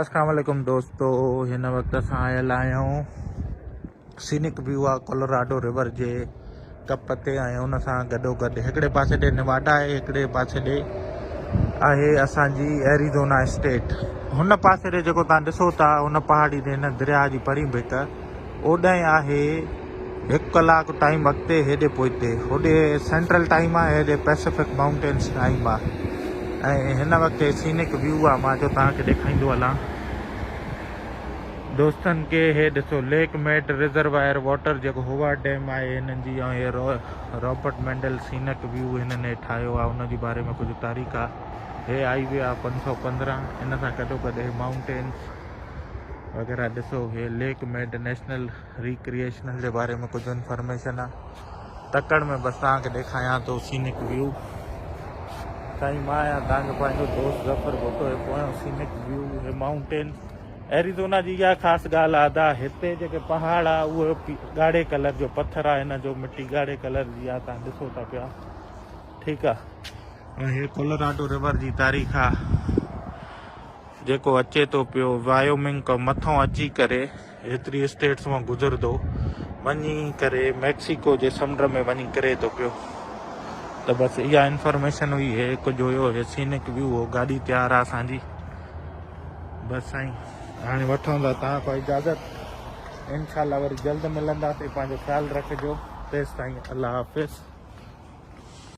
اسلام عليڪم دوستو هن وقت اسان آيل آهيون سينڪ ويو آ ڪولوراڊو ريور جي ڪپ تي ۽ ان سان گڏو گڏ هڪڙي پاسي ڏي نواڊا آهي هڪڙي پاسي ڏي آهي اسان جي ايريزونا اسٽيٽ هن پاسي ڏي جيڪو تان ڏسو ٿا هن پهاڙي ڏي هن درياهه جي پرين ڀيٽ اوڏانهن آهي هڪ ڪلاڪ ٽائيم اڳتي هيڏي پوئتي. هوڏي سينٽرل ٽائيم آهي هيڏي پئسفڪ مائونٽينس ٽائيم آهي ۽ هن وقت هي سينڪ ويو آهي مان جو توهان کي ڏيکائيندو هلان دوستن کي هي ڏسو ليڪ ميڊ ريزرواير واٽر جيڪو هوارڊ ڊيم آهي هنن جي ۽ هي رابرٽ مينڊل سينڪ ويو هنن هي ٺاهيو آهي ان جي باري ۾ ڪجهه تاريخ آهي هي هائي وي آهي پنج سؤ پندرهن ان سان گڏوگڏ هي مائونٽينس وغيره ڏسو هي ليڪ ميڊ نيشنل ريڪريشنل جي باري ۾ ڪجهه انفارميشن آ تڪڙ ۾ بس تان کي ڏيکايان تو سينڪ ويو سائين ما آيا تان کي پنهنجو دوست ظفر بوتو هي پويو سينڪ ويو هي ماؤنٽين ايريزونا جي يا خاص گال آدا هتي جيڪي پهاڙ آ او گاڙي کلر جو پٿر آ هن جو مٽي گاڙي کلر جي آ تان ڏسو تا پيا ٺيڪ آ هي ڪولراڊو ريور جي تاريخ آ جيڪو اچي ٿو پيو وايومنگ کان مٿان اچي ڪري ايتري اسٽيٽس مان گذرندو وڃي ڪري ميڪسيڪو جي سمنڊ ۾ وڃي ڪري ٿو پيو ته بس اها انفارميشن هئي هي ڪجهه هيو هي سينڪ ويو هو گاڏي تيار آ اسان جي بس سائين هاڻي وٺون ٿا تان کان اجازت انشاءالله وري جلد ملنداسي پنهنجو خيال رکجو تيستائين الله حافظ